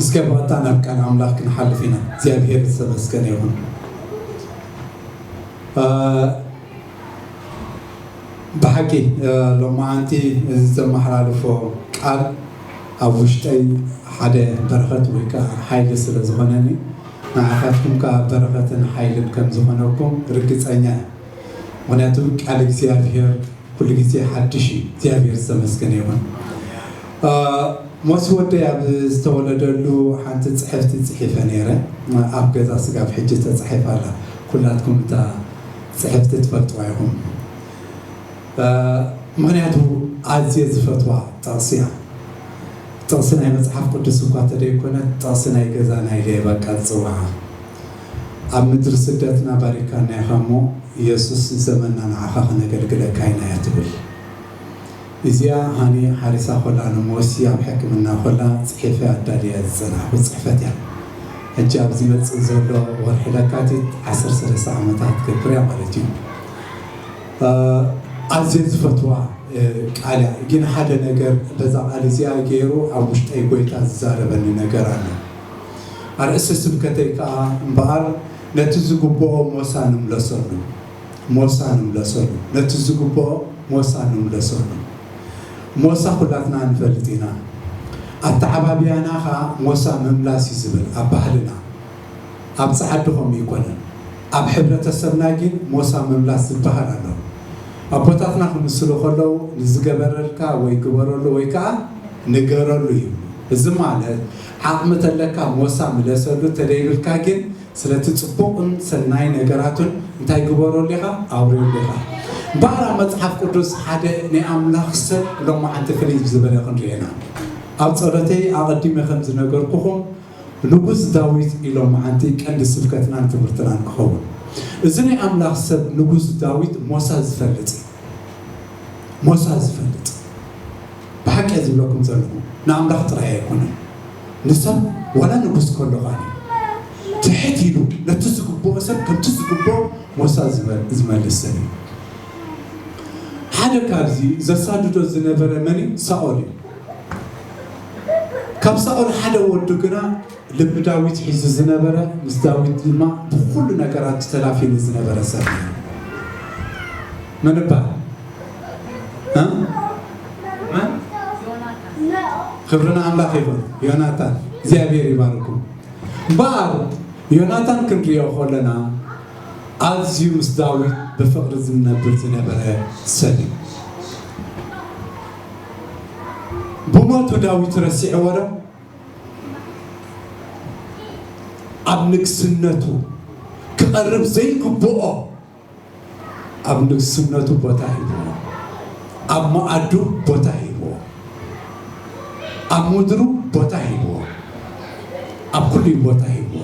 እስከ ባእታ ናብ ቃል ኣምላኽ ክንሓልፍ ኢና። እግዚኣብሔር ዝተመስገነ ይኹን። ብሓቂ ሎማዓንቲ እዚ ዘመሓላልፎ ቃል ኣብ ውሽጠይ ሓደ በረኸት ወይ ከዓ ሓይሊ ስለ ዝኾነኒ ንዓኻትኩም ከዓ በረኸትን ሓይልን ከም ዝኾነኩም ርግፀኛ ምክንያቱ ቃል እግዚኣብሔር ኩሉ ግዜ ሓድሽ እዩ እግዚኣብሔር ዝተመስገነ ይኹን ሞሲ ወደይ ኣብ ዝተወለደሉ ሓንቲ ፅሕፍቲ ፅሒፈ ነይረ ኣብ ገዛ ስጋብ ሕጂ ተፃሒፋ ኣላ ኩላትኩም እታ ፅሕፍቲ ትፈልጥዋ ይኹም ምክንያቱ ኣዝየ ዝፈትዋ ጥቕሲ እያ ጥቕሲ ናይ መፅሓፍ ቅዱስ እኳ ተደይኮነት ጥቕሲ ናይ ገዛ ናይ ለየ በቃ ዝፅዋዓ ኣብ ምድሪ ስደትና ባሪካና ኢካ እሞ የሱስ ንዘመና ንዓካ ክነገልግለካ ኢና ትብል ኢዚኣ ሃኒ ሓሪሳ ኮላ ንሞሲ ኣብ ሕክምና ኮላ ጺሒፈ ኣዳልየያ ዝጸናሕኩ ጽሕፈት ኢያ ሕጂ ኣብ ዝመጽእ ዘሎ ወርሒ ለካቲት ዓሰርተ ሰለስተ ዓመታ ክትገብር ኢያ ማለት ኢዩ ኣዝየ ዝፈትዋ ቃል ኢያ ጊን ሓደ ነገር በዛ ቃል ኢዚኣ ጌሩ ኣብ ውሽጠይ ጎይታ ዝዛረበኒ ነገር ኣሎ ኣርእስቲ ስብከተይ ከኣ እምበኣር ነቲ ዝግብኦ ሞሳ ንምለሰሉ ሞሳ ንምለሰሉ ነቲ ዝግብኦ ሞሳ ንምለሰሉ ሞሳ ኩላትና ንፈልጥ ኢና ኣተዓባብያና ከኣ ሞሳ ምምላስ እዩ ዝብል ኣብ ባህልና ኣብ ጸዓዱ ከምኡ ኣይኮነን ኣብ ሕብረተሰብና ጊን ሞሳ ምምላስ ዝበሃል ኣሎ ኣቦታትና ክምስሉ ከለዉ ንዝገበረልካ ወይ ግበረሉ ወይ ከኣ ንገረሉ ይብሉ እዚ ማለት ዓቕሚ ተለካ ሞሳ ምለሰሉ ተደይብልካ ጊን ስለቲ ጽቡቕን ሰናይ ነገራቱን እንታይ ግበረሉ ኢኻ ኣውርየሉ ኢኻ እምበኣር ኣብ መጽሓፍ ቅዱስ ሓደ ናይ ኣምላኽ ሰብ ሎማዓንቲ ፍልይ ብዝበለ ክንሪኦ ኢና ኣብ ጸሎተይ ኣቐዲመ ከም ዝነገርኩኹም ንጉስ ዳዊት ኢሎማዓንቲ ቀንዲ ስብከትናን ትምህርትናን ክኸውን እዚ ናይ ኣምላኽ ሰብ ንጉስ ዳዊት ሞሳ ዝፈልጥ እዩ ሞሳ ዝፈልጥ ብሓቂ እየ ዝብለኩም ዘለኹ ንኣምላኽ ጥራይ ኣይኮነን ንሰብ ዋላ ንጉስ ከሎ ኻኒ ትሕት ኢሉ ነቲ ዝግብኦ ሰብ ከምቲ ዝግብኦ ሞሳ ዝመልስ ሰብ እዩ ሓደ ካብዚ ዘሳድዶ ዝነበረ መን እዩ ሳኦል እዩ ካብ ሳኦል ሓደ ወዱ ግና ልቢ ዳዊት ሒዙ ዝነበረ ምስ ዳዊት ድማ ብኹሉ ነገራት ተላፊኑ ዝነበረ ሰብ እዩ። መን እባል ክብርን ኣምላኽ ይኹን ዮናታን እግዚኣብሔር ይባርኩ እምበኣር ዮናታን ክንሪኦ ከለና ኣዝዩ ምስ ዳዊት ብፍቕሪ ዝነብር ዝነበረ ሰብ እዩ ብሞቱ ዳዊት ረሲዕዎ ዶ ኣብ ንግስነቱ ክቐርብ ዘይግብኦ ኣብ ንግስነቱ ቦታ ሂብዎ፣ ኣብ መኣዱ ቦታ ሂብዎ፣ ኣብ ምድሩ ቦታ ሂብዎ፣ ኣብ ኩሉይ ቦታ ሂብዎ።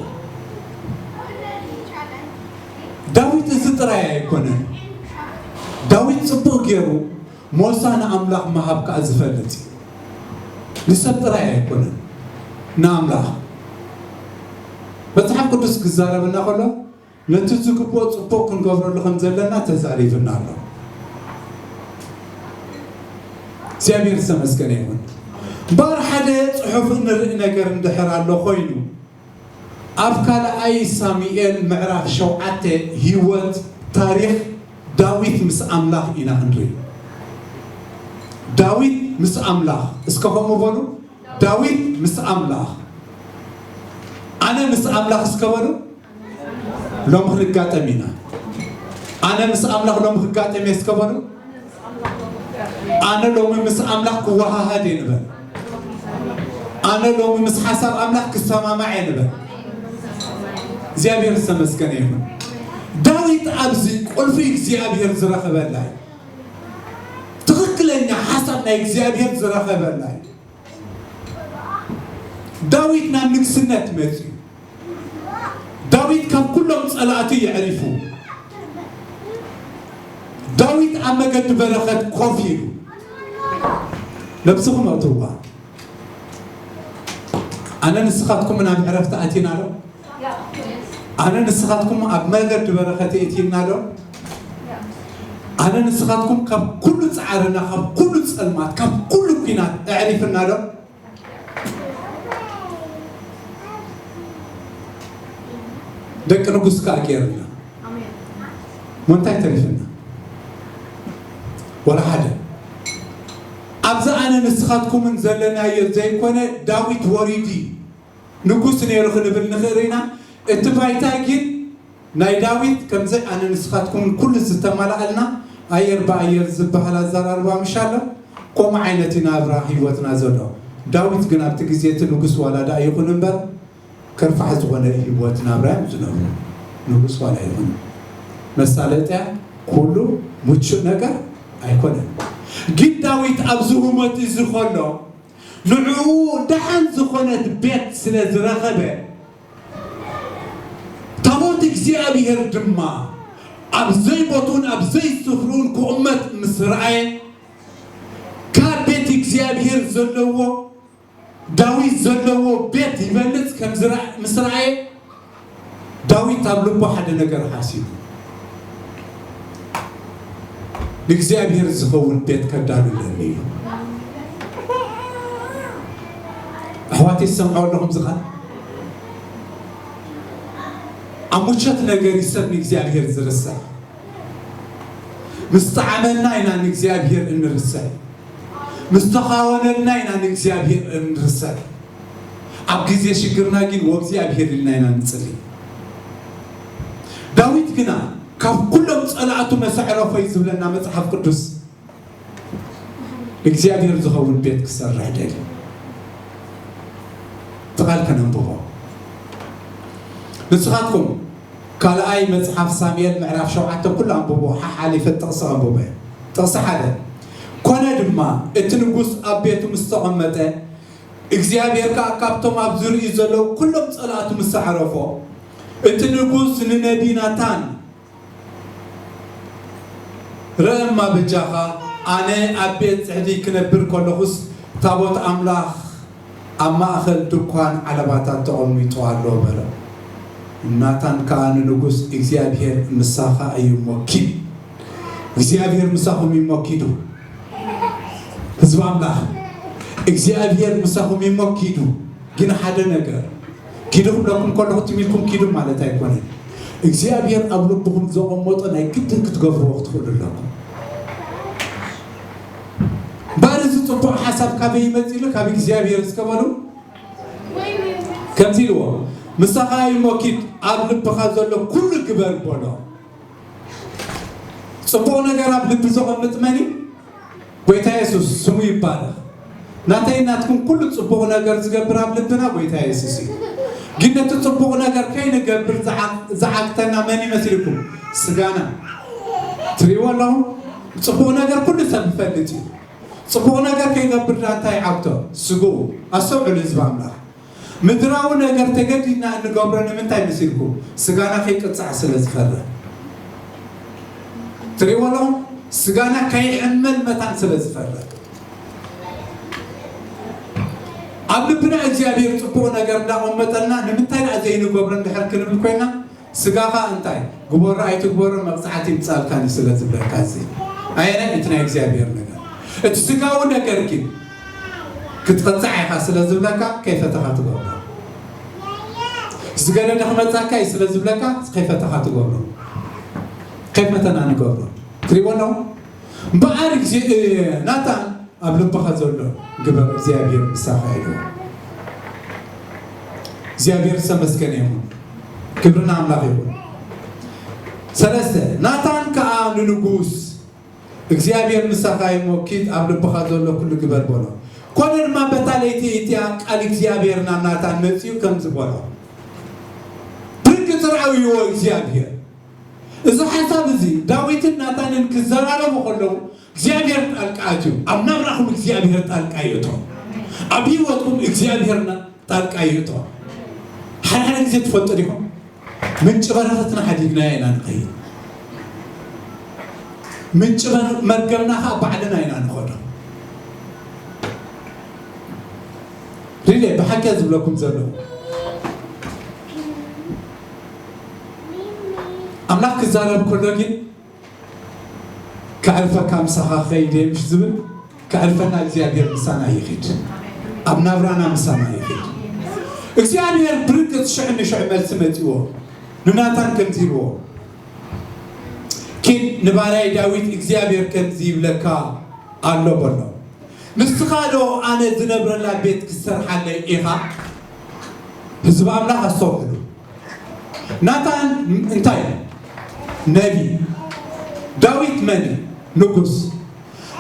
ዳዊት እዚ ጥራይ ኣይኮነን። ዳዊት ጽቡቕ ገይሩ ሞሳ ንኣምላኽ ምሃብ ከኣ ዚፈልጥ እዩ። ንሰብ ጥራይ ኣይኰነን፣ ንኣምላኽ። መጽሓፍ ቅዱስ ኪዛረበና ኸሎ፣ ነቲ ዚግብኦ ጽቡቕ ክንገብረሉ ኸም ዘለና ተዛሪቡና ኣሎ። እግዚኣብሄር ዝተመስገነ ይኹን። እምበኣር፣ ሓደ ጽሑፍ እንርኢ ነገር እንድሕር ኣሎ ዀይኑ፣ ኣብ ካልኣይ ሳሙኤል ምዕራፍ ሸውዓተ ህይወት፣ ታሪኽ፣ ዳዊት ምስ ኣምላኽ ኢና እንርኢ። ዳዊት ምስ ኣምላኽ፣ እስከ ከምኡ በሉ፣ ዳዊት ምስ ኣምላኽ። ኣነ ምስ ኣምላኽ እስከ በሉ፣ ሎሚ ክንጋጠም ኢና። ኣነ ምስ ኣምላኽ ሎሚ ክጋጠም እየ እስከ በሉ። ኣነ ሎሚ ምስ ኣምላኽ ክወሃሃድ እየ ንበል። ኣነ ሎሚ ምስ ሓሳብ ኣምላኽ ክሰማማዕ እየ ንበል። እግዚኣብሔር ዝተመስገነ ይኹን። ዳዊት ኣብዚ ቁልፊ እግዚኣብሔር ዝረኸበላ እዩ። ትኽክለኛ ሓሳብ ናይ እግዚኣብሔር ዝረኸበላ እዩ። ዳዊት ናብ ንግስነት መጺኡ። ዳዊት ካብ ኩሎም ጸላእቱ የዕሪፉ። ዳዊት ኣብ መገዲ በረኸት ኮፍ ኢሉ። ነብስኹም ኣእትውዋ፣ ኣነ ንስኻትኩምን ኣብ ዕረፍቲ ኣቲና ዶ? ኣነ ንስኻትኩም ኣብ መገዲ በረኸት የእቲና ዶ? ኣነ ንስኻትኩም ካብ ኩሉ ጻዕርና፣ ካብ ኩሉ ጸልማት፣ ካብ ኩሉ ኩናት ኣዕሪፍና ዶ? ደቂ ንጉስ ከዓ ገይርና ምንታይ ተሪፍና ወላ ሓደ ኣብዚ ኣነ ንስኻትኩምን ዘለናዮ ዘይኮነ ዳዊት ወሪዱ እዩ ንጉስ ነይሩ ክንብል ንኽእር ኢና እቲ ባይታይ ጊን ናይ ዳዊት ከምዚ ኣነ ንስኻትኩምን ኩሉ ዝተማላኣልና ኣየር ብኣየር ዝባሃል ኣዛራርባ ምሽ ኣሎ ኮምኡ ዓይነት ኢና ኣብራ ሂወትና ዘሎ ዳዊት ግን ኣብቲ ግዜ እቲ ንጉስ ዋላ ዳኣ ይኹን እምበር ከርፋሕ ዝኾነ ሂወት ናብራ እዮም ዝነብሩ ንጉስ ዋላ ይኹን መሳለጥያ ኩሉ ሙቹእ ነገር ኣይኮነን ጊን ዳዊት ኣብዚ ሁመት እዚ ከሎ ንዕኡ ደሓን ዝዀነት ቤት ስለ ዝረኸበ፣ ታቦት እግዚኣብሄር ድማ ኣብ ዘይቦትኡን ኣብ ዘይስፍርኡን ክቕመጥ ምስ ረኣየ፣ ካብ ቤት እግዚኣብሄር ዘለዎ፣ ዳዊት ዘለዎ ቤት ይበልጽ ከም ምስ ረኣየ፣ ዳዊት ኣብ ልቡ ሓደ ነገር ሓሲቡ፣ ንእግዚኣብሄር ዝኸውን ቤት ከዳሉለኒ እዩ። ኣሕዋተይ ዝሰምዕዎ ኣለኹም ዝቓል ኣብ ሙቸት ነገር ይሰብ ንእግዚኣብሔር ዝርሰዕ ምስ ጣዕመና ኢና ንእግዚኣብሔር እንርሰዕ ምስ ተኻወነልና ኢና ንእግዚኣብሔር እንርሰዕ ኣብ ግዜ ሽግርና ግን ወእግዚኣብሄር ኢልና ኢና ንጽሊ። ዳዊት ግና ካብ ኩሎም ጸላእቱ መሰዕረፎይ ዝብለና መጽሓፍ ቅዱስ እግዚኣብሄር ዝኸውን ቤት ክሰርሕ ደልዩ። እቲ ቃል ከነንብቦ ንስኻትኩም ካልኣይ መጽሓፍ ሳሙኤል ምዕራፍ ሸውዓተ ኩሉ ኣንብቦ ሓሓሊፈ ጥቕሲ ኣንብቦ እየ። ጥቕሲ ሓደ ኮነ ድማ እቲ ንጉስ ኣብ ቤቱ ምስ ተቐመጠ እግዚኣብሄር ከኣ ካብቶም ኣብ ዙርይኡ ዘለዉ ኵሎም ጸላእቱ ምስ ኣዕረፎ፣ እቲ ንጉስ ንነብዪ ናታን፣ ርእ እማ፣ በጃኻ ኣነ ኣብ ቤት ጽሕዲ ክነብር ከለኹስ፣ ታቦት ኣምላኽ ኣብ ማእከል ድኳን ዓለባታት ተቐሚጡ ኣሎ፣ በሎ። ናታን ከኣ ንንጉስ፣ እግዚኣብሄር ምሳኻ እዩ እሞ ኪድ፣ እግዚኣብሄር ምሳኹም እዩ እሞ ኪዱ። ህዝቢ ኣምላኽ እግዚኣብሔር ምሳኹም እዩሞ ኪዱ ግን ሓደ ነገር ኪዱ ክብለኩም ከለኹ ትም ኢልኩም ኪዱ ማለት ኣይኮነን እግዚኣብሔር ኣብ ልብኹም ዘቐመጦ ናይ ግድን ክትገብርዎ ክትኽእሉ ኣለኩም ባር እዚ ፅቡቕ ሓሳብ ካበይ ይመፅእ ኢሉ ካብ እግዚኣብሔር ዝከበሉ ከምዚ ኢልዎ ምሳኻ እዩሞ ኪድ ኣብ ልብኻ ዘሎ ኩሉ ግበር በሎ ጽቡቕ ነገር ኣብ ልቢ ዘቐምጥ መን እዩ? ጎይታ የሱስ ስሙ ይባረኽ። ናተይ ናትኩም ኩሉ ጽቡቕ ነገር ዝገብር ኣብ ልብና ጎይታ የሱስ እዩ። ግን ነቲ ጽቡቕ ነገር ከይንገብር ዝዓግተና መን ይመስልኩም? ስጋና። ትሪእዎ ኣለኹም? ጽቡቕ ነገር ኩሉ ሰብ ይፈልጥ እዩ። ጽቡቕ ነገር ከይገብር ዳንታ ይዓግቶ ስግኡ። ኣስተውዕሉ ህዝቢ ኣምላኽ። ምድራዊ ነገር ተገዲድና እንገብሮ ንምንታይ ምስልኩም ስጋና ከይቅጻዕ ስለ ዝፈርህ ትሪእዎ ኣለኹም ስጋና ከይሕመል መታን ስለ ዝፈርህ ኣብ ልብና እግዚኣብሔር ጽቡቕ ነገር እንዳቐመጠልና ንምንታይ ደኣ ዘይንገብሮ እንድሕር ክንብል ኮይና ስጋኻ እንታይ ግበሮ ኣይትግበሮ መቅጻዕቲ ይምጻልካ ን ስለ ዝብለካ እዚ ኣየናይ እዩ እቲ ናይ እግዚኣብሔር ነገር እቲ ስጋዊ ነገር ግን ክትቅጻዕ ኢኻ ስለ ዝብለካ ከይፈተኻ ትገብሮ ዝገደደ ክመጻካ እዩ ስለ ዝብለካ ከይፈተኻ ትገብሮ ከይፈተና ንገብሮ ትሪእዎ ኣለኹም እምበኣር እግዚእ ናታን ኣብ ልብኻ ዘሎ ግበር እግዚኣብሔር ምሳኻ ኢልዎ። እግዚኣብሔር ዝተመስገነ ይኹን፣ ክብሪ ንኣምላኽ ይኹን። ሰለስተ ናታን ከዓ ንንጉስ እግዚኣብሔር ምሳኻ እዩ እሞ ኪድ ኣብ ልብኻ ዘሎ ኩሉ ግበር በሎ። ኮነ ድማ በታ ለይቲ እቲኣ ቃል እግዚኣብሔር ናብ ናታን መፂኡ ከምዚ በሎ፣ ብርግፅ ርኣይዎ እግዚኣብሔር እዚ ሓሳብ እዚ ዳዊትን ናታንን ክዘራረቡ ከለዉ እግዚኣብሔር ጣልቃ ኣትዩ ኣብ ናብራኹም እግዚኣብሔር ጣልቃ ይእቶ ኣብ ህይወትኩም እግዚኣብሔርና ጣልቃ ይእቶ ሓድሓደ ግዜ ትፈልጡ ዲኹም ምንጭ በረኸትና ሓዲግናዮ ኢና ንኸይድ ምንጭ መርገምና ከዓ ባዕልና ኢና ንኸዶ ሪሌ ብሓቂ ዝብለኩም ዘለዉ ኣምላኽ ክዛረብ ከሎ ግን ከዕርፈካ ምሳኻ ኸይደ ምሽ ዝብል ከዕርፈና እግዚኣብሔር ምሳና ይኺድ ኣብ ናብራና ምሳና ይኺድ እግዚኣብሔር ብርግፅ ሽዕ ንሽዕ መልሲ መፂዎ ንናታን ከምዚ ይብዎ ኪድ ንባርያይ ዳዊት እግዚኣብሔር ከምዚ ይብለካ ኣሎ በሎ ንስኻ ዶ ኣነ ዝነብረላ ቤት ክትሰርሓለይ ኢኻ ህዝቢ ኣምላኽ ኣስተውዕሉ። ናታን እንታይ እዩ? መን እዩ? ዳዊት መን እዩ? ንጉስ።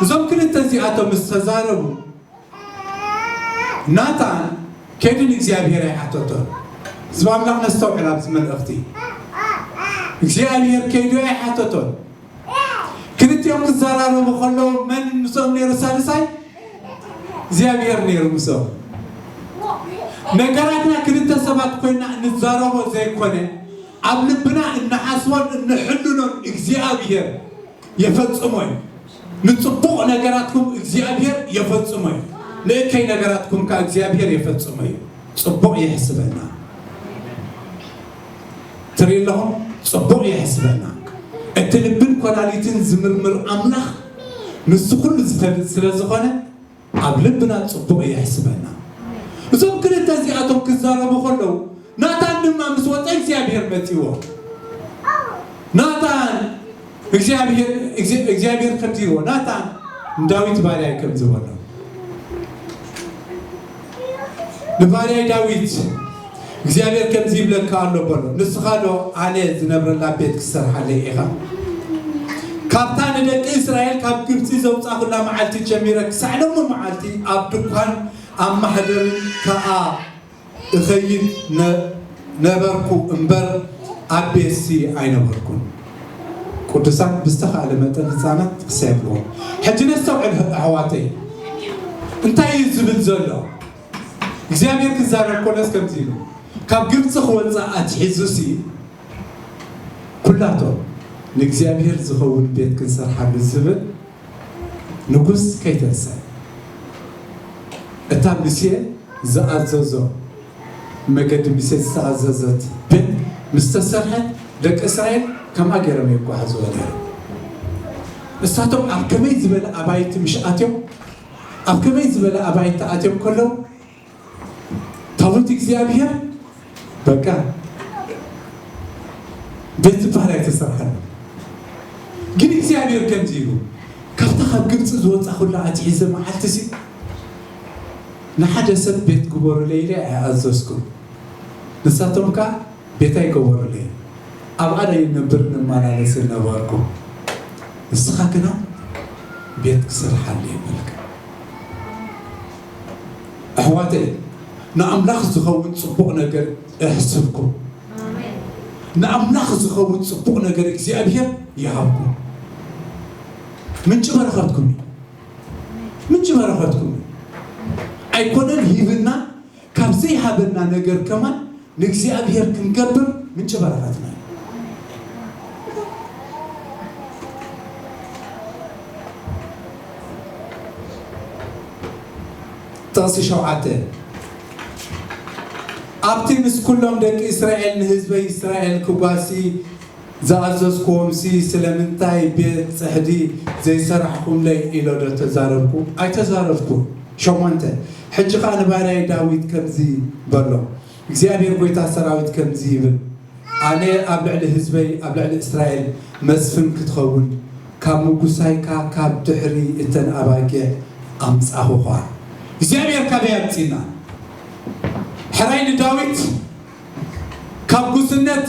እዞም ክልተ እዚኣቶም ምስ ተዛረቡ ናታን ከይዱ ንእግዚኣብሔር ኣይሓተቶን። ህዝቢ ኣምላኽ ነስተውዕል ኣብዚ መልእኽቲ። እግዚኣብሔር ከይዱ ኣይሓተቶን። ክልቲኦም ክዘራረቡ ከለዉ መን ምስኦም ነይሩ ሳልሳይ? እግዚኣብሔር ነይሩ ምስኦም። ነገራትና ክልተ ሰባት ኮይና እንዛረቦ ዘይኮነ ኣብ ልብና እንሓስቦን እንሕልኖን እግዚኣብሔር የፈጽሞ እዩ። ንጽቡቕ ነገራትኩም እግዚኣብሔር የፈጽሞ እዩ፣ ንእከይ ነገራትኩም ከኣ እግዚኣብሔር የፈጽሞ እዩ። ጽቡቕ የሕስበና። ትሪኡ ኣለኹም ጽቡቕ ይሕስበና እቲ ልብን ኮላሊትን ዝምርምር ኣምላኽ ምስዚ ኩሉ ዝፈልጥ ስለ ዝኾነ ኣብ ልብና ጽቡቕ ይሕስበና እዞም ክልተ እዚኣቶም ክዛረቡ ከለዉ ናታን ድማ ምስ ወጸ እግዚኣብሔር መጺዎ ናታን እግዚኣብሄር እግዚኣብሄር ከምዚ ኢልዎ ናታን ንዳዊት ባርያይ ከምዚ በሎ ንባርያይ ዳዊት እግዚኣብሄር ከምዚ ይብለካ ኣሎ በሎ ንስኻ ዶ ኣነ ዝነብረላ ቤት ክትሰርሓለይ ኢኻ ካብታ ንደቂ እስራኤል ካብ ግብፂ ዘውፃኹላ መዓልቲ ጀሚረ ክሳዕ ሎሚ መዓልቲ ኣብ ድኳን ኣብ ማሕደር ከዓ እኸይድ ነበርኩ እምበር ኣብ ቤትሲ ኣይነበርኩን። ቅዱሳን ብዝተኻእለ መጠን ህጻናት ክሰየምዎም። ሕጂ ነስተውዕል ኣሕዋተይ እንታይ እዩ ዝብል ዘሎ እግዚኣብሔር ክዛረብ ኮለስ ከምዚ ኢሉ ካብ ግብፂ ክወፅእ ኣትሒዙሲ ኩላቶም ንእግዚኣብሔር ዝኸውን ቤት ክንሰርሓሉ ዝብል ንጉስ ከይተንስኣ እታ ምሴ ዝኣዘዞ መገዲ ምሴ ዝተኣዘዘት ደንብ ምስ ተሰርሐት ደቂ እስራኤል ከምኣ ገይሮም የጓዕዝዎ ነይሮም። ንሳቶም ኣብ ከመይ ዝበለ ኣባይቲ ምሽ ኣትዮም ኣብ ከመይ ዝበለ ኣባይቲ ኣትዮም ከለዉ ታቦት እግዚኣብሔር በቃ ቤት ዝበሃል ኣይተሰርሐን ግን እግዚኣብሔር ከምዚ ኢሉ ካብታ ካብ ግብፂ ዝወፃኹላ ኣትሒዘ መዓልቲ ሲ ንሓደ ሰብ ቤት ግበሩለይ ኢለ ኣይኣዘዝኩም ንሳቶም ከዓ ቤት ኣይገበሩለይ ኣብኣ ናይ ነብር ንመላለስ ነበርኩ ንስኻ ግና ቤት ክስርሓለይ በልካ ኣሕዋተይ ንኣምላኽ ዝኸውን ጽቡቕ ነገር እሕስብኩም። ንኣምላኽ ዝኸውን ጽቡቕ ነገር እግዚኣብሄር ይሃብኩም። ምንጪ በረኸትኩም እዩ። ምንጪ በረኸትኩም እዩ። ኣይኮነን ሂብና ካብ ዘይሃበና ነገር ከማን ንእግዚኣብሔር ክንገብር ምንጪ በረኸትና እዩ። ጥቕሲ ሸውዓተ ኣብቲ ምስ ኩሎም ደቂ እስራኤል ንህዝበይ እስራኤል ክጓሲ ዝኣዘዝኩዎምሲ ስለምንታይ ቤት ጽሕዲ ዘይሰራሕኹምለይ ኢለ ዶ ተዛረብኩ? ኣይተዛረብኩን። ሸሞንተ፣ ሕጂ ኸኣ ንባርያይ ዳዊት ከምዚ በሎ፣ እግዚኣብሄር ጐይታ ሰራዊት ከምዚ ይብል፣ ኣነ ኣብ ልዕሊ ህዝበይ፣ ኣብ ልዕሊ እስራኤል መስፍን ክትኸውን፣ ካብ ምጕሳይካ ካብ ድሕሪ እተን ኣባጊዕ ኣምጻኹኻ። እግዚኣብሄር ካበይ ኣምጺእና ሕራይ ንዳዊት ካብ ጕስነት?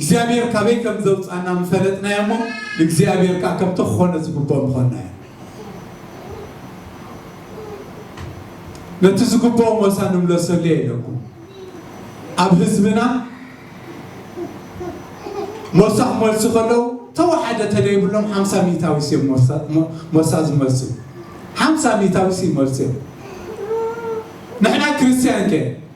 እግዚኣብሔር ካበይ ከም ዘውጽኣና ምፈለጥናዮ እሞ ንእግዚኣብሔር ከኣ ከምቲ ክኾነ ዝግብኦ ምኾንናዮ። ነቲ ዝግብኦ ሞሳ ንምለሰሉየ ኢለኩም ኣብ ህዝብና ሞሳ ክመልሱ ከለዉ ተወሓደ ተደይብሎም ሓምሳ ሚእታዊስ እዮም ሞሳ ዝመልሱ ሓምሳ ሚእታዊስ ይመልሱ እዮም ንሕና ክርስትያን ከ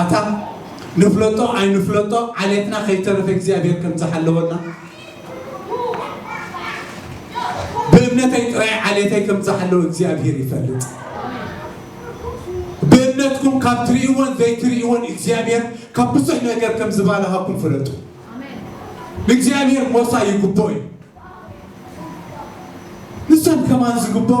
ኣታ ንፍለጦ ኣይንፍለጦ ዓሌትና ከይተረፈ እግዚኣብሔር ከም ዝሓለወና ብእምነተይ ጥራይ ዓሌተይ ከም ዝሓለወ እግዚኣብሔር ይፈልጥ ብእምነትኩም ካብ ትርእይዎን ዘይትርእይዎን እግዚኣብሔር ካብ ብዙሕ ነገር ከም ዝባልሃኩም ፍለጡ ንእግዚኣብሔር ሞሳ ይግብኦ እዩ ንሶም ከማን ዝግብኦ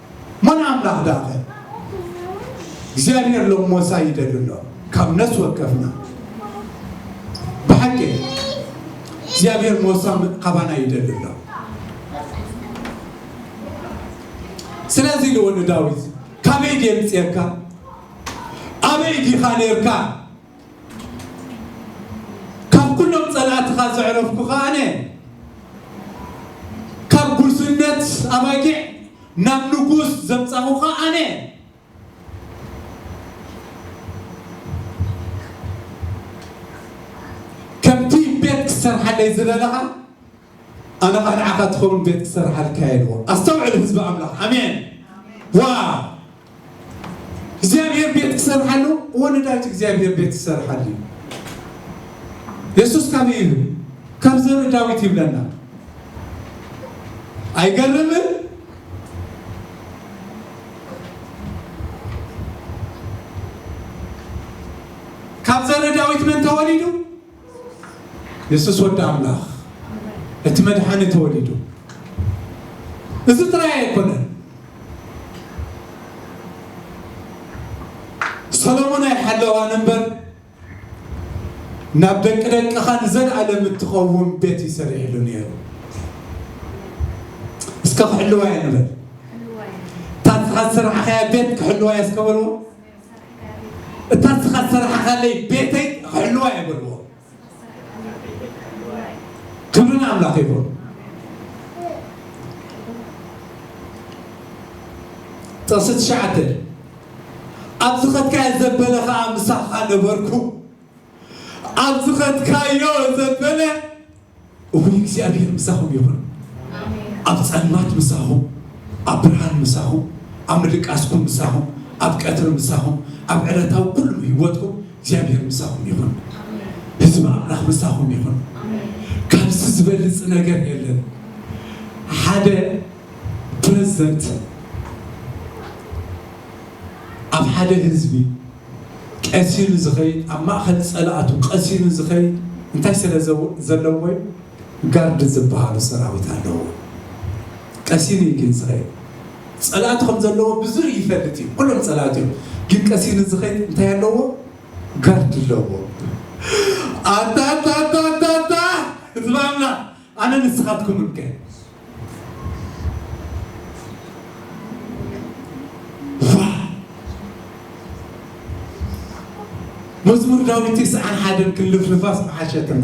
ሞን ኣምላኽ ዳኸ እግዚኣብሔር ሎም ሞሳ ይደሉ ኣሎ ካብ ነፍሲ ወከፍና ብሓቂ እግዚኣብሔር ሞሳ ካባና ይደሉ ኣሎ ስለዚ ልወኑ ዳዊት ካበይ ድየምፅየካ ኣበይ ዲኻ ነርካ ካብ ኩሎም ጸላእትኻ ዘዕረፍኩኻ ኣነ፣ ካብ ጉስነት ኣባጊዕ ናብ ንጉስ ዘምጻኹኻ ኣነ፣ ከምቲ ቤት ክትሰርሓለይ ዝበለኻ ኣነ ኸኣ ንዓኻ ትኸውን ቤት ክሰርሓልካ እየ ኢልዎ። ኣስተውዕል ህዝቢ ኣምላኽ። ኣሜን። ዋው! እግዚኣብሔር ቤት ክሰርሕ ኣለዎ ወለዳት እግዚኣብሔር ቤት ክሰርሕ ኣለዩ የሱስ ካበይ ኢሉ ካብ ዘር ዳዊት ይብለና ኣይገርምን ካብ ዘር ዳዊት መን ተወሊዱ የሱስ ወዲ ኣምላኽ እቲ መድሓኒ ተወሊዱ። እዚ ጥራይ ኣይኮነን፣ ሰሎሞን ኣይሓለዋን እምበር ናብ ደቂ ደቅኻ ንዘለኣለም እትኸውን ቤት እዩ ሰሪዕሉ ነይሩ። እስከ ክሕልዋ እየ ንበል። እታ ንስኻ ዝሰራሕኻያ ቤት ክሕልዋ እየ እስከ በልዎ። እታ ንስኻ ዝሰራሕኻለይ ቤተይ ኽሕልዋ እየ በልዎ። ክብሪ ንኣምላኽ ይኹን። ጥቕሲ ትሽዓተ ኣብ ዝኸድካዮ ዘበለ ኸኣ ምሳኻ ነበርኩ። ኣብ ዝኸድካዮ ዘበለ እውይ እግዚኣብሔር ምሳኹም ይኹን ኣብ ፀልማት ምሳኹም ኣብ ብርሃን ምሳኹም ኣብ ምድቃስኩም ምሳኹም ኣብ ቀትሪ ምሳኹም ኣብ ዕለታዊ ኩሉ ህይወትኩም እግዚኣብሔር ምሳኹም ይኹን ህዝቢ ኣምላኽ ምሳኹም ይኹን ካብዚ ዝበልፅ ነገር የለን ሓደ ፕረዝደንት ኣብ ሓደ ህዝቢ ቀሲኑ ዝኸይድ ኣብ ማእኸል ፀላእቱ ቀሲኑ ዝኸይድ እንታይ ስለ ዘለዎ ዩ? ጋርድ ዝብሃሉ ሰራዊት ኣለውዎ። ቀሲኑ ዩ ግን ዝኸይድ። ፀላእቱ ከም ዘለዎ ብዙር ይፈልጥ ዩ። ኩሎም ፀላእቱ ዮም። ግን ቀሲኑ ዝኸይድ እንታይ ኣለዎ? ጋርድ ኣለዎ። ኣታታታታታ ህዝቢ ኣምላኽ! ኣነ ንስኻትኩምን ከ መዝሙር ዳዊት ትስዓን ሓደን ክንልፍልፋስ ምሓሸትና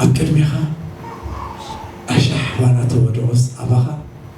ኣብ ቅድሜኻ ኣሻሕ ዋላ ተወደኦስ ኣባኻ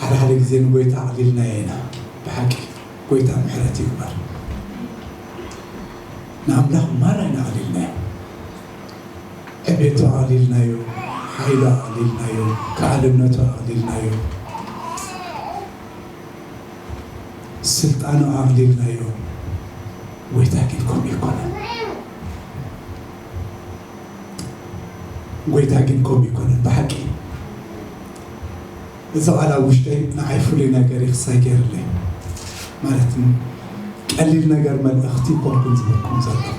ሓደ ሓደ ግዜ ንጎይታ ኣዕሊልናዮ ኢና ብሓቂ ጎይታ ምሕረት ይግበር ንኣምላኽ ማራ ኢና ኣዕሊልናዮ ዕቤቱ ኣቕሊልናዮ፣ ሓይሉ ኣቕሊልናዮ፣ ከኣልነቱ ኣቕሊልናዮ፣ ስልጣኑ ኣቕሊልናዮ፣ ጎይታ ግን ከምኡ ኣይኮነን። ጎይታ ግን ከምኡ ኣይኮነን ብሓቂ። እዚ ቃል ኣብ ውሽጠይ ንዓይ ፍሉይ ነገር እዩ ክሳይ ገይርለይ ማለት ን ቀሊል ነገር መልእኽቲ ኣይኮንኩን ዝህበኩም ዘለኹ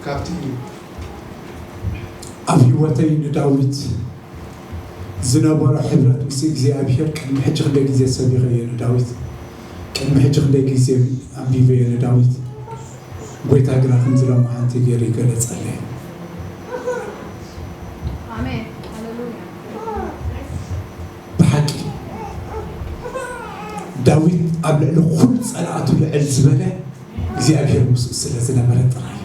ካብቲ ኣብ ሂወተይ ንዳዊት ዝነበሮ ሕብረት ምስ እግዚኣብሄር ቅድሚ ሕጂ ክንደይ ግዜ ሰቢኸዮ ንዳዊት ቅድሚ ሕጂ ክንደይ ግዜ ኣንቢበዮ ንዳዊት ጎይታ ግና ከምዚ ሎምዓንቲ ገይሩ ይገለጸለይ። ብሓቂ ዳዊት ኣብ ልዕሊ ኩሉ ጸላእቱ ልዕል ዝበለ እግዚኣብሄር ምስኡ ስለ ዝነበረ ጥራይ እዩ።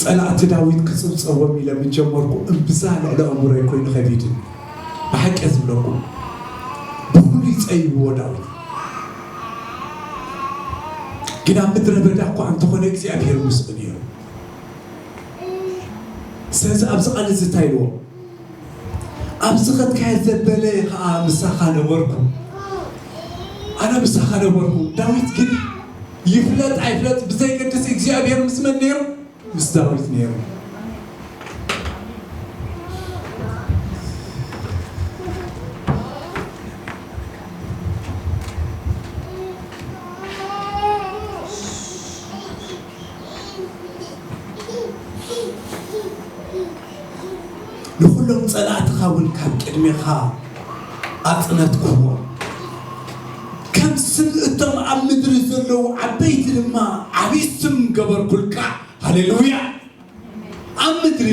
ጸላእቲ ዳዊት ክጽብጸቦም ኢለ ምስ ጀመርኩ እምብዛ ልዕሊ ኣእምሮይ ኮይኑ ከቢድኒ ብሓቂ እየ ዝብለኩም ብፍሉይ ጸይብዎ ዳዊት ግን ኣብ ምድረ በዳ እኳ እንተኾነ እግዚኣብሔር ምስኡ ነይሩ ስለዚ ኣብዚ ቃል እዚ እንታይ ኢልዎ ኣብዚ ክትከይድ ዘበለ ኸኣ ምሳኻ ነበርኩ፣ ኣነ ምሳኻ ነበርኩ። ዳዊት ግን ይፍለጥ ኣይፍለጥ ብዘይገድስ እግዚኣብሄር ምስ መን ነይሩ? ምስ ዳዊት ነይሩ። ንዅሎም ጸላእትኻ እውን ካብ ቅድሜኻ ኣጽነትኩዎም፣ ከም ስም እቶም ኣብ ምድሪ ዘለዉ ዓበይቲ ድማ ዓብዪ ስም ገበርኩልካ። ሃሌሉያ! ኣብ ምድሪ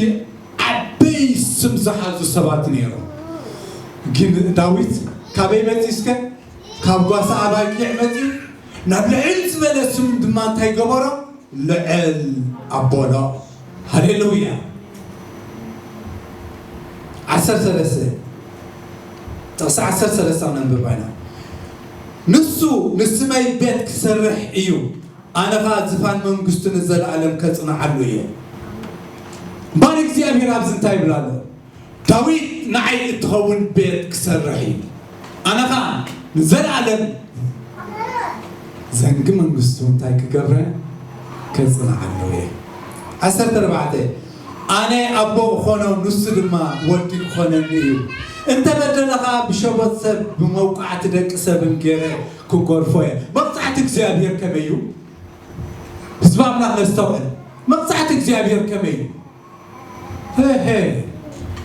ዓበይ ስም ዝሓዙ ሰባት ነይሮም፣ ግን ዳዊት ካበይ መጺኡ እስከ? ካብ ጓሳ ኣባጊዕ መጺኡ፣ ናብ ልዕል ዝበለ ስም ድማ እንታይ ገበሮ? ልዕል ኣቦሎ ሃሌሉያ ዓሰርተ ሰለስተ ጥቕሲ ዓሰርተ ሰለስተ ነንብባ ኢና ንሱ ንስመይ ቤት ክሰርሕ እዩ ኣነ ኸኣ ዝፋን መንግስቱ ንዘለኣለም ከጽንዓሉ እየ እምበኣር እግዚኣብሔር ኣብዚ እንታይ ይብል ኣሎ ዳዊት ንዓይ እትኸውን ቤት ክሰርሕ እዩ፣ ኣነ ኸኣ ንዘለኣለም ዘንጊ መንግስቱ እንታይ ክገብረ ከጽንዓሉ እየ። ዓሰርተ ኣርባዕተ ኣነ ኣቦ እዀኖ፣ ንሱ ድማ ወዲ ክዀነኒ እዩ፣ እንተ በደለ ኸኣ ብሸቦት ሰብ ብመውቃዕቲ ደቂ ሰብን ገይረ ክጐርፎ እየ። መቕጻዕቲ እግዚኣብሄር ከመይ እዩ? ህዝቢ ኣምላኽ ነስተውዕል፣ መቕጻዕቲ እግዚኣብሄር ከመይ እዩ? ህህ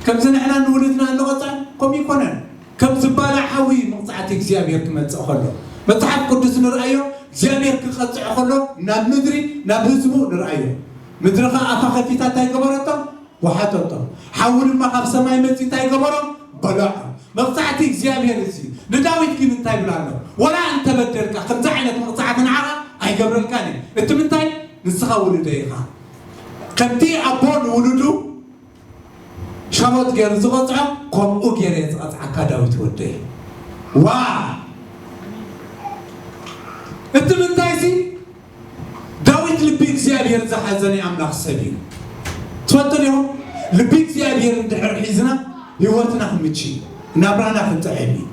ከምዚ ንሕና ንውሉድና እንቐጽዕ ከምኡ ኣይኮነን ከም ዝባላዕ ሓዊ መቕጻዕቲ እግዚኣብሄር ክመጽእ ከሎ መጽሓፍ ቅዱስ ንርኣዮ እግዚኣብሄር ክቐጽዕ ከሎ ናብ ምድሪ ናብ ህዝቡ ንርኣዮ ምድሪ ከኣ ኣፋ ከፊታ እንታይ ገበረቶ ወሓጠቶ ሓዊ ድማ ካብ ሰማይ መጺኡ እንታይ ገበሮ በለዖ መቕጻዕቲ እግዚኣብሄር እዚ ንዳዊት ግን እንታይ ይብል ኣሎ ወላ እንተበደልካ ከምዚ ዓይነት መቕጻዕቲ ንዓኻ ኣይገብረልካን እዩ እቲ ምንታይ ንስኻ ውሉደይ ኢኻ ከምቲ ኣቦ ንውሉዱ ሸሞት ገሩ ዝቀጽዖ ኮምኡ ገረ እየ ዝቀጽዓካ ዳዊት ወደይ ዋይ እቲ ምንታይሲ ዳዊት ልቢ እግዚኣብሔር ዝሓዘ ናይ ኣምላኽ ሰብ እዩ ትፈልጡ ዲኹም ልቢ እግዚኣብሔር እንድሕር ሒዝና ህይወትና ክምቺ ናብራና ክጥዕም እዩ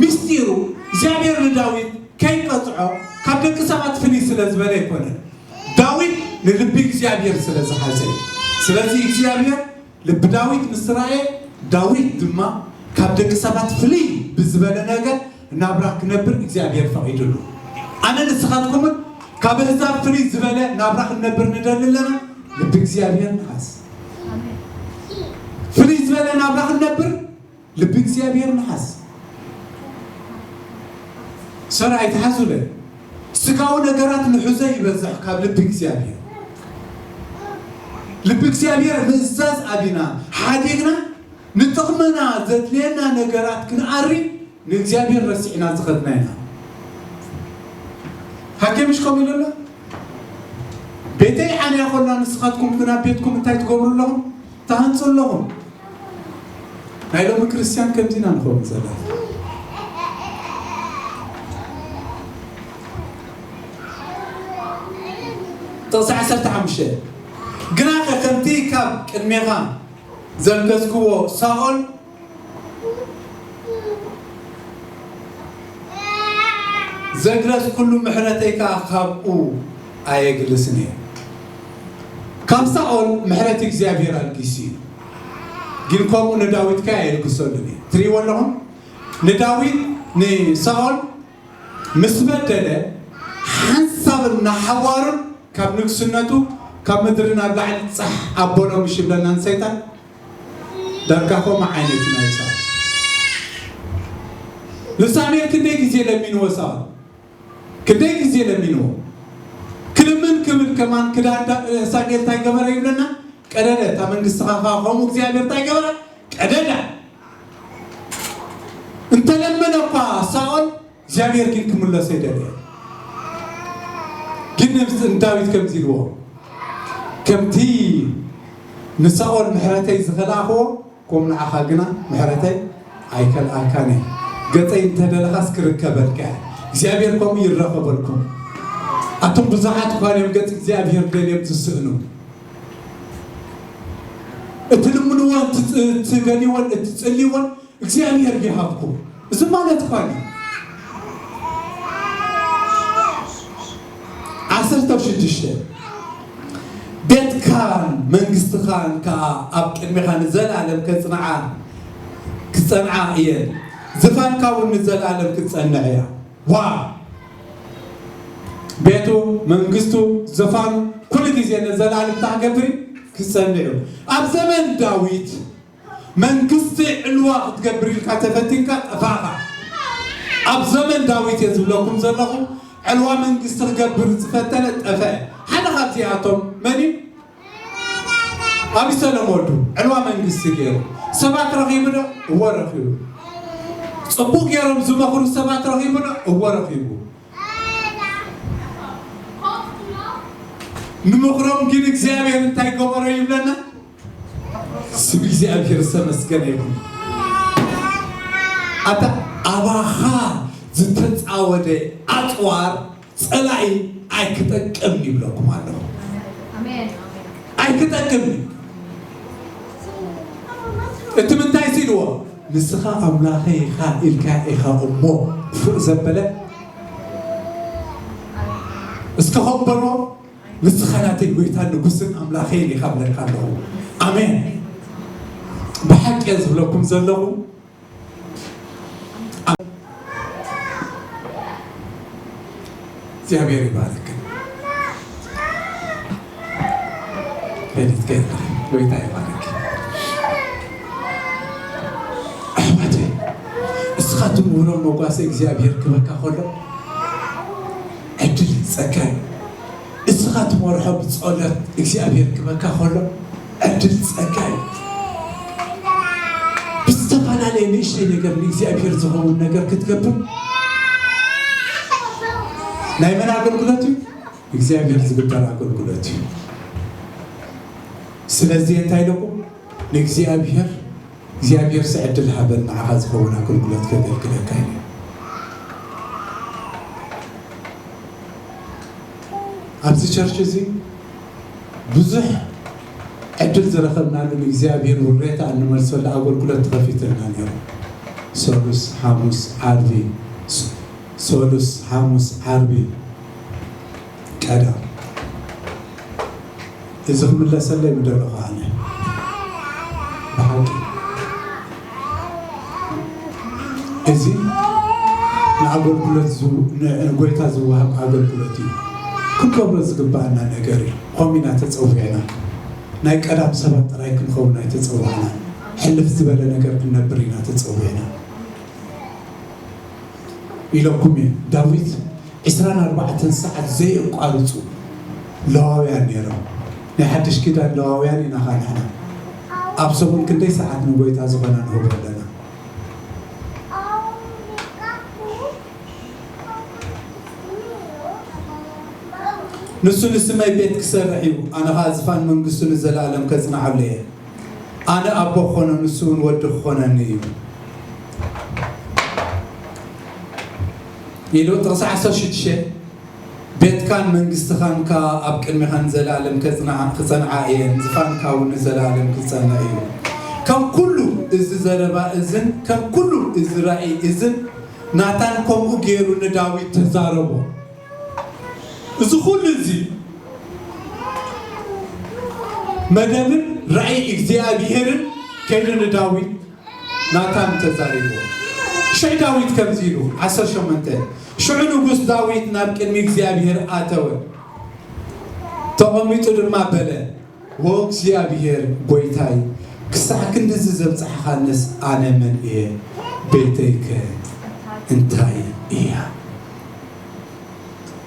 ምስጢሩ እግዚኣብሔር ንዳዊት ከይቀጽዖ ካብ ደቂ ሰባት ፍልይ ስለ ዝበለ ኣይኮነን ዳዊት ንልቢ እግዚኣብሄር ስለ ዝሓዘ እዩ። ስለዚ እግዚኣብሄር ልቢ ዳዊት ምስ ረኣየ፣ ዳዊት ድማ ካብ ደቂ ሰባት ፍልይ ብዝበለ ነገር ናብራ ክነብር እግዚኣብሄር ፈቒድሉ። ኣነን ንስኻትኩምን ካብ ኣህዛብ ፍልይ ዝበለ ናብራ ክንነብር ንደሊ ኣለና? ልቢ እግዚኣብሄር ንሓዝ። ፍልይ ዝበለ ናብራ ክንነብር ልቢ እግዚኣብሔር ንሓዝ ሰር ኣይትሓዙለ ስጋዊ ነገራት ንሕዞ ይበዝሕ ካብ ልቢ እግዚኣብሔር ልቢ እግዚኣብሔር ምእዛዝ ኣቢና ሓዲግና ንጥቕምና ዘድልየና ነገራት ክንኣሪ ንእግዚኣብሔር ረሲዕና ዝኸድና ኢና ሃኬ ምሽ ከምኡ ኢሉ ኣሎ ቤተይ ዓንያ ኮላ ንስኻትኩም ግን ኣብ ቤትኩም እንታይ ትገብሩ ኣለኹም ትሃንጹ ኣለኹም ናይ ሎሚ ክርስትያን ከምዚ ኢና ንኸውን ዘለና ጥቕሲ ዓሰርተ ሓሙሽተ ግናኸ ከምቲ ካብ ቅድሜኻ ዘንገዝክዎ ሳኦል ዘግረዝኩሉ ምሕረተይ ከኣ ካብኡ ኣየግልስን እየ። ካብ ሳኦል ምሕረት እግዚኣብሄር ኣልጊሱ እዩ፣ ግን ከምኡ ንዳዊት ከ ኣየልግሰሉን እዩ። ትርእይዎ ኣለኹም? ንዳዊት ንሳኦል ምስ በደለ ሓንሳብ እናሓዋሩን ካብ ንግስነቱ ካብ ምድሪ ናብ ላዕሊ ጻሕ ኣበሎ ምሽ ይብለናን ሰይጣን ዳርጋ ከምኡ ዓይነት ናይ ሳባ ንሳሙኤል ክንደይ ግዜ ለሚንዎ ሳባ ክንደይ ግዜ ለሚንዎ ክልምን ክብል ከማን ክዳን ዳ- ሳሙኤል እንታይ ገበረ ይብለና ቀደደ እታ መንግስትኻ ከ ከምኡ እግዚኣብሔር እንታይ ገበረ ቀደዳ እንተለመነ እኳ ሳኦል እግዚኣብሔር ግን ክምለሶ ይደልየ ግን ነብስ ንዳዊት ከምዚ ኢልዎ ከምቲ ንሳኦል ምሕረተይ ዝኸልኣኽዎ ከምኡ ንዓኻ ግና ምሕረተይ ኣይከልኣካን እየ ገፀይ እንተደለኻስ ክርከበልካ እየ እግዚኣብሔር ከምኡ ይረኸበልኩም ኣቶም ብዙሓት እኳ እዮም ገፅ እግዚኣብሔር ደልዮም ዝስእኑ እትልምንዎን እትደልይዎን እትፅልይዎን እግዚኣብሔር ይሃብኩም እዚ ማለት ኳሊ ዓሰርተ ሽዱሽተ ቤትካን መንግስትኻን ከኣ ኣብ ቅድሜኻ ንዘልኣለም ከጽንዓ ክጸንዓ እየን ዝፋንካ ውን ንዘልኣለም ክትጸንዕ እያ ዋው ቤቱ መንግስቱ ዝፋኑ ኩሉ ግዜ ንዘልኣለም እንታይ ክገብር እዩ ክጸንዕ እዩ ኣብ ዘመን ዳዊት መንግስቲ ዕልዋ ክትገብር ኢልካ ተፈቲንካ ጠፋእኻ። ኣብ ዘመን ዳዊት እየ ዝብለኩም ዘለኹ ዕልዋ መንግስቲ ክገብር ዝፈተነ ጠፈ። ሓደ ካብዚኣቶም መን እዩ? ኣብይ ሰለም ወልዱ ዕልዋ መንግስቲ ገይሩ ሰባት ረኺቡ ዶ? እወ ረኺቡ። ጽቡቅ ገይሮም ዝመኽሩ ሰባት ረኺቡ ዶ? እወ ረኺቡ። ንምኽሮም ግን እግዚኣብሔር እንታይ ገበሮ ይብለና? ስም እግዚኣብሔር ዝተመስገነ ይኹን። ኣታ ኣባኻ ዝተፃወደ ኣፅዋር ፀላኢ ኣይክጠቅም ይብለኩም ኣለኹ። ኣይክጠቅም እቲ ምንታይ ሲልዎ ንስኻ ኣምላኸ ኢኻ ኢልካ ኢኻ እሞ ክፉእ ዘበለ እስከ ኾበሮ ንስኻ ናተይ ጎይታን ንጉስን ኣምላኸይን ኢኻ እብለካ ኣለኹ ኣሜን ብሓቂ እየ ዝብለኩም ዘለኹ እግዚኣብሔር ይባርክ ሌሊት ገና ጎይታ ይባርክ ኣሕዋተይ ንስኻትኩም ውሮ መጓሰ እግዚኣብሔር ክበካ ከሎ ዕድልን ጸጋን እዩ እስኻ ትመርሖ ብጾሎት እግዚኣብሔር ክበካ ከሎ ዕድል ጸጋ እዩ ብዝተፋላለየ ንእሽተይ ነገር ንእግዚኣብሔር ዝኸውን ነገር ክትገብር ናይ መን ኣገልግሎት እዩ እግዚኣብሔር ዝግበር ኣገልግሎት እዩ ስለዚህ እንታይ ኢለኹ ንእግዚኣብሔር እግዚኣብሔርሰ ዕድል ሃበን ንዓኻ ዝኸውን ኣገልግሎት ከገልግለካ ኢለ። ኣብዚ ቸርች እዚ ብዙሕ ዕድል ዝረኸብናሉ ንእግዚኣብሔር ውሬታ እንመልሰሉ ኣገልግሎት ተኸፊትልና ነይሩ። ሰሉስ ሓሙስ ዓርቢ ሰሉስ ሓሙስ ዓርቢ ቀዳም እዚ ክምለሰለይ ምደለኹ ኣነ ብሓቂ እዚ ንኣገልግሎት ንጎይታ ዝወሃብ ኣገልግሎት እዩ ክንገብሮ ዝግባኣና ነገር እዩ ከምኡ ኢና ተፀዊዕና ናይ ቀዳም ሰባት ጥራይ ክንኸውን ኣይተፀዋዕናን ሕልፍ ዝበለ ነገር ክነብር ኢና ተፀዊዕና ኢለኩም እየ ዳዊት ዕስራን ኣርባዕተን ሰዓት ዘየቋርጹ ለዋውያን ነይሮም። ናይ ሓድሽ ኪዳን ለዋውያን ኢና እኻ ንሕና። ኣብ ሰሙን ክንደይ ሰዓት ንጎይታ ዝኾና ንህቦ ኣለና? ንሱ ንስመይ ቤት ክሰርሕ እዩ፣ ኣነ ኸኣ ዝፋን መንግስቱ ንዘለኣለም ከጽንዓሉ እየ። ኣነ ኣቦ ክኾኖ፣ ንሱውን ወዲ ክኾነኒ እዩ። ኢሉ ጥቕሲ ዓሰርተ ሽዱሽተ ቤትካን መንግስትኻን ከኣ ኣብ ቅድሜኻ ንዘለኣለም ከጽንዓ ክጸንዓ እየን፣ ዝፋንካ እውን ንዘለኣለም ክጸንዕ እዩ። ከም ኩሉ እዚ ዘረባ እዝን ከም ኩሉ እዚ ራኢ እዝን ናታን ከምኡ ገይሩ ንዳዊት ተዛረቦ። እዚ ኩሉ እዚ መደብን ራኢ እግዚኣብሄርን ከይዱ ንዳዊት ናታን ተዛሪቡ። ሽሕ ዳዊት ከምዚ ኢሉ፣ ዓሰርተ ሸሞንተ፣ ሽዑ ንጉስ ዳዊት ናብ ቅድሚ እግዚኣብሄር ኣተወ፣ ተቐሚጡ ድማ በለ፣ ኦ እግዚኣብሄር ጐይታይ፣ ክሳዕ ክንድዚ ዘብጽሕኻንስ ኣነ መን እየ? ቤተይከ እንታይ እያ?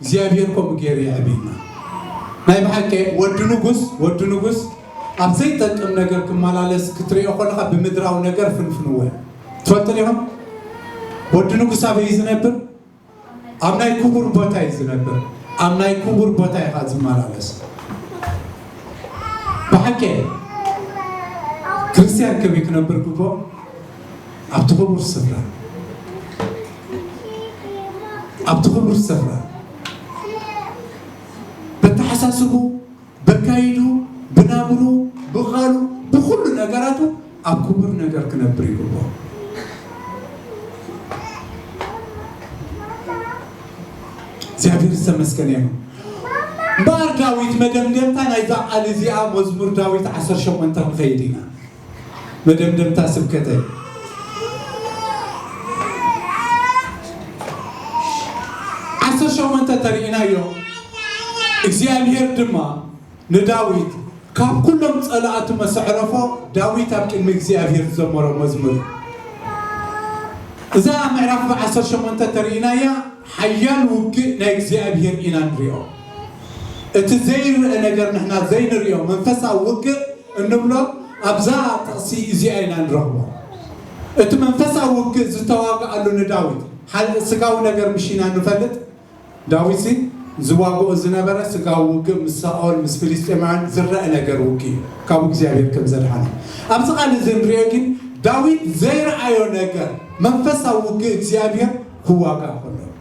እግዚኣብሔር ከምኡ ገይሩ የዕብይና። ናይ ብሓቂ ወዲ ንጉስ ወዲ ንጉስ ኣብ ዘይጠቅም ነገር ክመላለስ ክትሪኦ ከለኻ ብምድራዊ ነገር ፍንፍንዎ እዩ። ትፈልጡ ዲኹም? ወዲ ንጉስ ኣበይ እዩ ዝነብር? ኣብ ናይ ክቡር ቦታ እዩ ዝነብር። ኣብ ናይ ክቡር ቦታ እዩ ከዓ ዝመላለስ። ብሓቂ ክርስቲያን ከመይ ክነብር ግብኦ? ኣብቲ ክቡር ስፍራ ኣብቲ ክቡር ስፍራ በተሓሳስቡ በካይዱ ብናብሩ ብቓሉ ብኩሉ ነገራቱ ኣብ ክቡር ነገር ክነብር ይግብኦ እግዚኣብሔር ዝተመስገነ ይኹን እምበኣር ዳዊት መደምደምታ ናይዛ ቃል እዚኣ መዝሙር ዳዊት 18 ንኸይድ ኢና መደምደምታ ስብከተይ። ዓሰርተ ሸሞንተ ተርኢናዮ እግዚኣብሄር ድማ ንዳዊት ካብ ኩሎም ጸላእቱ መሰዕረፎ ዳዊት ኣብ ቅድሚ እግዚኣብሄር ዝዘመሮ መዝሙር እዛ ምዕራፍ ብዓሰርተ ሸሞንተ ተርኢናያ ሓያል ውግእ ናይ እግዚኣብሄር ኢና ንሪኦ እቲ ዘይርእ ነገር ንሕና ዘይንሪኦ መንፈሳዊ ውግእ እንብሎ ኣብዛ ጥቕሲ እዚኣ ኢና ንረኽቦ። እቲ መንፈሳዊ ውግእ ዝተዋግኣሉ ንዳዊት ሓ ስጋዊ ነገር ምሽ ኢና ንፈልጥ። ዳዊትሲ ዝዋግኦ ዝነበረ ስጋዊ ውግእ ምስ ሳኦል ምስ ፍልስጤማውያን ዝረኣ ነገር ውግእ እዩ ካብ እግዚኣብሔር ከም ዘድሓኖ። ኣብዚ ቃል እዚ እንሪኦ ግን ዳዊት ዘይረኣዮ ነገር መንፈሳዊ ውግእ እግዚኣብሔር ክዋጋእ ከሎ እዩ።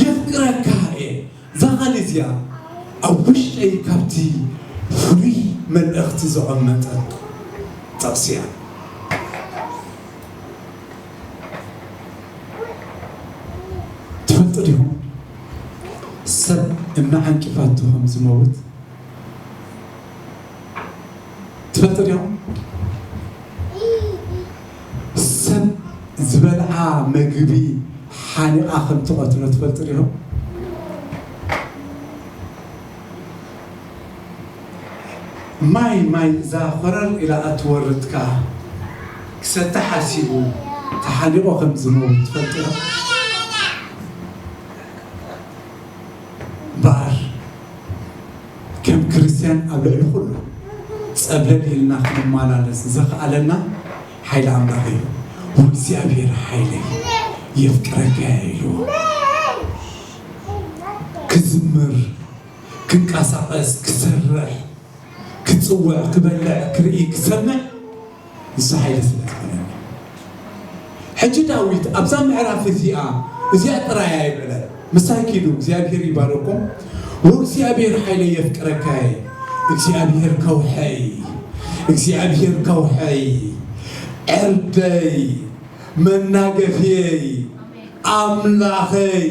የፍቅረካ እየ እዛ ቃል እዚኣ ኣብ ውሽጠይ ካብቲ ፍሉይ መልእኽቲ ዘቐመጠት ጥቕሲ እያ። ትፈልጡ ዲኹም ሰብ እናዓንቀፋቶ ከም ዝመውት? ትፈልጥ ዲኹም ሰብ ዝበልዓ መግቢ ሓኒቓ ከም ትቐትሎ ትፈልጥ ዲኹም ማይ ማይ እዛ ኮረር ኢላ እትወርድካ ክሰተ ሓሲቡ ተሓኒቆ ከም ዝመውት ትፈልጡ ዶ እምበኣር ከም ክርስትያን ኣብ ልዕሊ ኩሉ ጸብለል ኢልና ክንማላለስ ዘኽኣለና ሓይሊ ኣምላኽ እዩ። ወእግዚኣብሔር ሓይለይ የፍቅረካ እየ ኢልዎ። ክዝምር፣ ክንቀሳቐስ፣ ክሰርሕ፣ ክጽውዕ፣ ክበልዕ፣ ክርኢ፣ ክሰምዕ፣ ንሳ ሓይሊ ስለ ዝዀነኒ። ሕጂ ዳዊት ኣብዛ ምዕራፍ እዚኣ እዚኣ ጥራይ ኣየብዕለን ምሳይ ኪዱ እግዚኣብሄር ይባርኩም ዎእግዚኣብሄር ሓይለይ የፍቅረካየ እግዚኣብሄር ከውሕይ እግዚኣብሄር ከውሕይ ዕርደይ መናገፍየይ ኣምላኸይ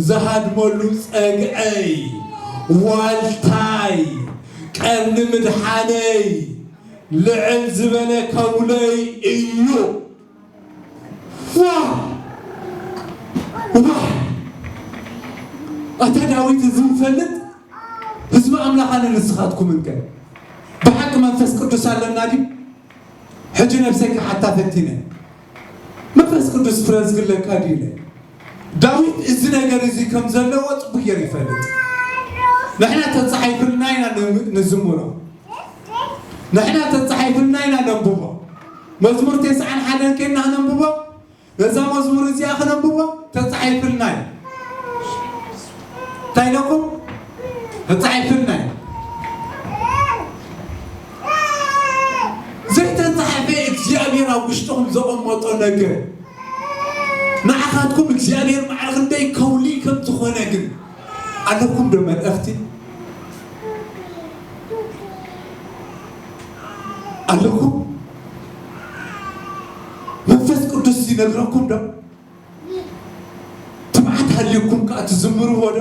ዝሃድመሉ ጸግዐይ ዋልታይ ቀርኒ ምድሓነይ ልዕል ዝበለ ከውለይ እዩ ዋይ ዋይ ኣታ ዳዊት እዚ ንፈልጥ ህዝቢ ኣምላኽ ኣነ ንስኻትኩም እንከ ብሓቂ መንፈስ ቅዱስ ኣለና ድዩ ሕጂ ነብሰይ ክሓታ ፈቲነ መንፈስ ቅዱስ ፍረ ዝግለካ ድዩ ኢለ ዳዊት እዚ ነገር እዚ ከም ዘለዎ ጥቡቅ ገይሩ ይፈልጥ ንሕና ተጻሒፍልና ኢና ንዝምሮ ንሕና ተጻሒፍልና ኢና ነንብቦ መዝሙር ቴስዓን ሓደን ኬና ክነንብቦ ነዛ መዝሙር እዚኣ ክነንብቦ ተጻሒፍልና እዩ እንታይ ኢለኩም ተጻሒፍልና እዩ ዘይተጻሕፈ እግዚኣብሔር ኣብ ውሽጥኹም ዘቐመጦ ነገር ንዓኻትኩም እግዚኣብሔር በዓል ክንደይ ከውሊ ከም ዝኾነ ግን ኣለኩም ዶ መልእኽቲ ኣለኩም መንፈስ ቅዱስ ይነግረኩም ዶ ትብዓት ሃልዩኩም ከኣ ትዝምርዎ ዶ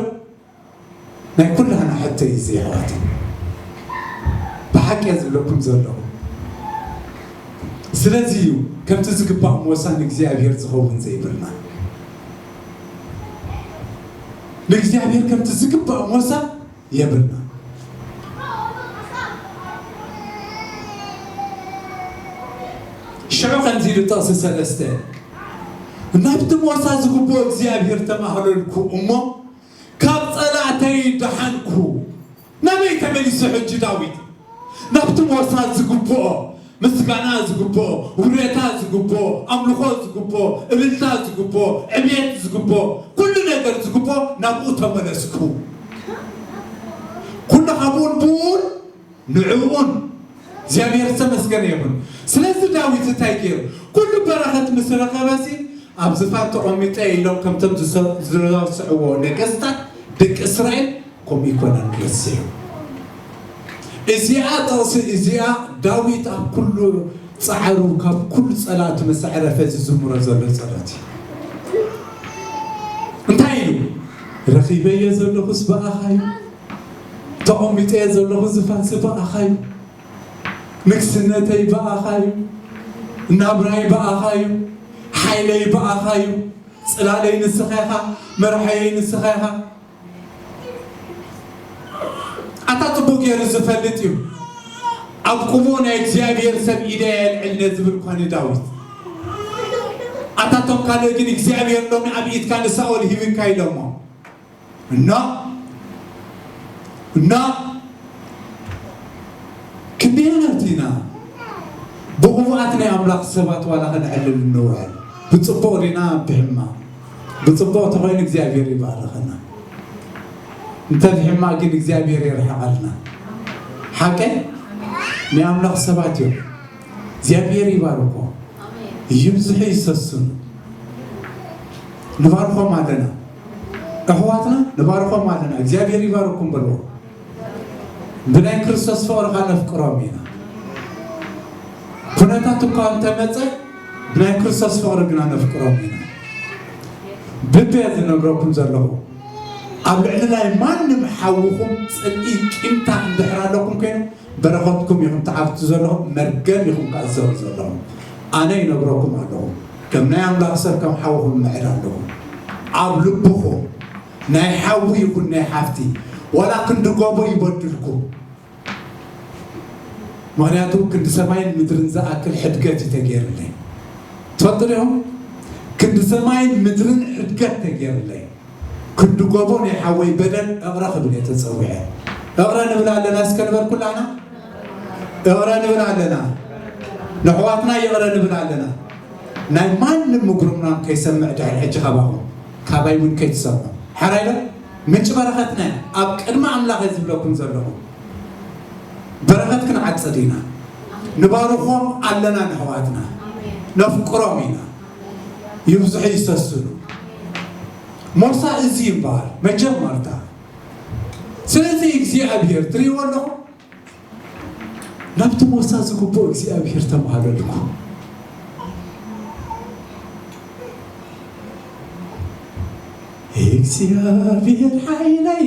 ናይ ኩላህና ሕቶ እዩ እዚ የሕዋተይ ብሓቂ እየ ዝብለኩም ዘለኹ ስለዚ እዩ ከምቲ ዝግባእ ሞሳ ንእግዚኣብሄር ዝኸውን ዘይብልና ንእግዚኣብሄር ከምቲ ዝግባእ ሞሳ የብልና ሽዑ ከምዚ ኢሉ ጥቕሲ ሰለስተ ናብቲ ሞሳ ዝግብኦ እግዚኣብሄር ተማህለልኩ እሞ ካብ ጸላእተይ ደሓንኩ። ናበይ ተመሊሱ ሕጂ ዳዊት? ናብቲ ሞሳ ዝግብኦ ምስጋና ዝግብኦ ውረታ ዝግብኦ ኣምልኾ ዝግብኦ እልልታ ዝግብኦ ዕብየት ዝግብኦ ኩሉ ነገር ዝግብኦ ናብኡ ተመለስኩ። ኩሉ ሃቡን ብኡን ንዕኡውን እግዚኣብሄር ዝተመስገነ ይኹን። ስለዚ ዳዊት እንታይ ገይሩ? ኩሉ በረኸት ምስ ረኸበሲ፣ ኣብ ዝፋን ተቐሚጠ እየ ኢሎም ከምቶም ዝረስዕዎ ነገስታት ደቂ እስራኤል ከምኡ ኣይኮነን ረሲዑ። እዚኣ ጥቕሲ እዚኣ ዳዊት ኣብ ኩሉ ጻዕሩ ካብ ኩሉ ጸላእቱ ምስ ኣዕረፈ ዝዝምሮ ዘሎ ጸሎት እዩ። እንታይ ኢሉ? ረኺበዮ ዘለኹስ ብኣኻ እዩ፣ ተቐሚጠዮ ዘለኹ ዝፋንሲ ብኣኻ'ዩ። ንግስነተይ ብኣኻ'ዩ። ናብራይ ብኣኻ'ዩ። ሓይለይ ብኣኻ'ዩ። ጽላለይ ንስኻ ኢኻ። መርሓየይ ንስኻ ኢኻ። ኣታ ጽቡቕ ገይሩ ዝፈልጥ'ዩ። ኣብ ቁሙኡ ናይ እግዚኣብሄር ሰብ ኢደይ ኣየልዕል ነዝብል እኳ ንዳዊት። ኣታ እቶም ካልእ ግን እግዚኣብሄር ሎሚ ኣብ ኢድካ ንሳኦል ሂብካ ኢሎሞ። እና እና ክንደየናይ ኢና ብቕኑዓት ናይ ኣምላኽ ሰባት ዋላ ክንዕልል እንውዕል? ብጽቡቕ ዲና ብሕማቕ? ብጽቡቕ ተኾይኑ እግዚኣብሔር ይባርኸና፣ እንተ ብሕማቕ ግን እግዚኣብሔር የርሕቐልና። ሓቀይ ናይ ኣምላኽ ሰባት እዮም። እግዚኣብሔር ይባርኮም ይብዝሑ ይሰስኑ ንባርኮም ኣለና ኣሕዋትና ንባርኮም ኣለና እግዚኣብሔር ይባርኩም በልዎ ብናይ ክርስቶስ ፍቅሪ ካ ነፍቅሮም ኢና ኩነታት እኳ እንተመፀ ብናይ ክርስቶስ ፍቅሪ ግና ነፍቅሮም ኢና ብቤ ዝነግረኩም ዘለኹ ኣብ ልዕሊ ናይ ማንም ሓውኹም ፅልኢ ቂምታ እንድሕር ኣለኩም ኮይኑ በረኸትኩም ኢኹም ትዓግቱ ዘለኹም መርገም ኢኹም ከኣ ትዘርኡ ዘለኹም ኣነ ይነግረኩም ኣለኹ ከም ናይ ኣምላኽ ሰብ ከም ሓውኹም ምዕድ ኣለኹ ኣብ ልብኹም ናይ ሓዊ ይኹን ናይ ሓፍቲ ዋላ ክንዲ ጎቦ ይበድልኩም ምክንያቱ ክንዲ ሰማይን ምድርን ዝኣክል ሕድገት እዩ ተገይርለይ ትፈልጡ ዲኹም ክንዲ ሰማይን ምድርን ሕድገት ተገይርለይ ክድገሞ ናይ ሓወይ በደል እቕረ ክብል እየ ተጸዊዐ እቕረ ንብል ኣለና እስከ ንበል ኩላና እቕረ ንብል ኣለና ንሕዋትና ይቕረ ንብል ኣለና ናይ ማንም ምጉርምራም ከይሰምዕ ድሕሪ ሕጂ ካባኹም ካባይ እውን ከይትሰምዑ ሓራይ ዶ ምንጪ በረኸትና እያ ኣብ ቅድሚ ኣምላኽ እየ ዝብለኩም ዘለኹ በረኸት ክንዓጽድ ኢና ንባርኾም ኣለና ንሕዋትና ነፍቅሮም ኢና ይብዝሑ ይሰስኑ ሞሳ እዚ ይበሃል መጀመርታ ስለዚ እግዚኣብሔር ትሪእዎ ኣለኹ ናብቲ ሞሳ ዝግብኦ እግዚኣብሔር ተማሃለልኩ እግዚኣብሔር ሓይለይ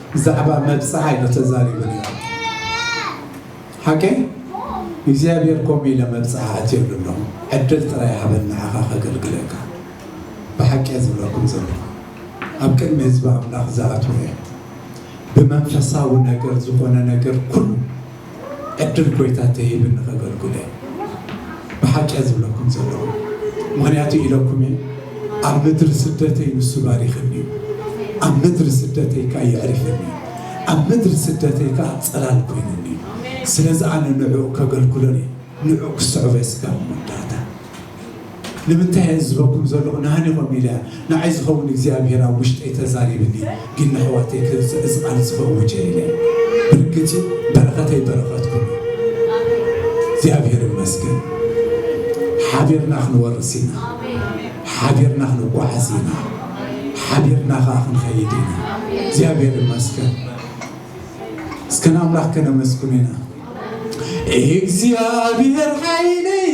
ብዛዕባ መብጽዓ ኢሎ ተዛሪቡ ነይሩ ሓቀይ እግዚኣብሔር ከምኡ ኢለ መብጽዓ ኣእትየሉ ኣለኹ ዕድል ጥራይ ሃበኒ ንዓኻ ከገልግለካ ብሓቂ እየ ዝብለኩም ዘለኹ ኣብ ቅድሚ ህዝቢ ኣምላኽ ዝኣትወ እየ ብመንፈሳዊ ነገር ዝኾነ ነገር ኩሉ ዕድል ጎይታ ተሂብኒ ከገልጉል እየ ብሓቂ እየ ዝብለኩም ዘለኹ ምኽንያቱ ኢለኩም እየ ኣብ ምድሪ ስደተይ ንሱ ባሪኽኒ እዩ ኣብ ምድሪ ስደተይ ከኣ የዕሪፈኒ እዩ ኣብ ምድሪ ስደተይ ከኣ ጽላል ኮይኑኒ እዩ ስለዚ ኣነ ንዕኡ ከገልግሎን እየ ንዕኡ ክስዕቦ እየ ስጋብ መወዳእታ ንምንታይ እየን ዝበኩም ዘለኩ ንሃኒቆም ኢለ ንዓይ ዝከውን እግዚኣብሄር ኣብ ውሽጠይ ተዛሪብኒ ግን ነሕዋተይ ከ እዚ ቃል እዚ ከእውጅ እየ ኢለ ብርግጽ እዩ በረከተይ በረከትኩም እዩ እግዚኣብሄር ይመስገን ሓቢርና ክንወርስ ኢና ሓቢርና ክንጓዓዝ ኢና ሓቢርና ከኣ ክንከይድ ኢና እግዚኣብሄር ይመስገን እስከ ንኣምላክ ከነመስግኑ ኢና እግዚኣብሄር ሓይለይ